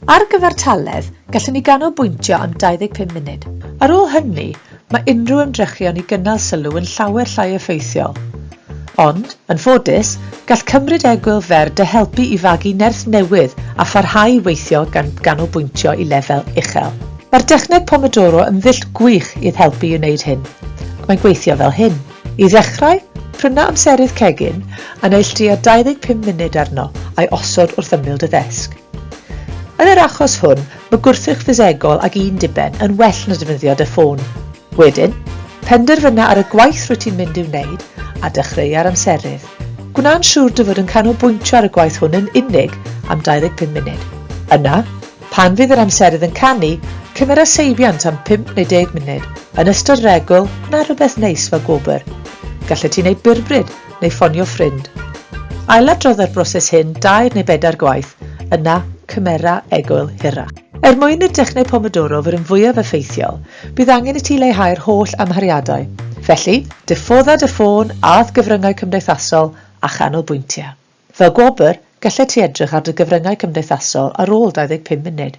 Ar gyfartaledd, gallwn ni ganolbwyntio am 25 munud. Ar ôl hynny, mae unrhyw ymdrechion i gynnal sylw yn llawer llai effeithiol. Ond, yn ffodus, gall cymryd egwyl fer dy helpu i fagu nerth newydd a pharhau i weithio gan ganolbwyntio i lefel uchel. Mae'r dechneg Pomodoro yn ddull gwych i'th helpu i wneud hyn, ac mae'n gweithio fel hyn. I ddechrau, pryna amserydd cegin a neilltuia 25 munud arno a'i osod wrth ymyl dy ddesg. Yn yr achos hwn, mae gwrthrych ffisegol ag un diben yn well na defnyddio dy ffôn. Wedyn, penderfyna ar y gwaith rwyt ti'n mynd i'w wneud a dechreua'r amserydd. Gwna'n siŵr dy fod yn canolbwyntio ar y gwaith hwn yn unig am 25 munud. Yna, Pan fydd yr amserydd yn canu, cymera seibiant am 5 neu 10 munud, yn ystod regl, na rhywbeth neis fel gwobr. Gallet ti wneud byrbryd, neu ffonio ffrind. Ailadrodda'r broses hyn dair neu bedair gwaith, yna cymera egwyl hirach. Er mwyn i'r dechneg Pomodoro fod yn fwyaf effeithiol, bydd angen i ti leihau'r holl amhariadau. Felly, diffodda dy ffôn â'th gyfryngau cymdeithasol a chanolbwyntia. Fel gwobr, gallet ti edrych ar dy gyfryngau cymdeithasol ar ôl 25 munud.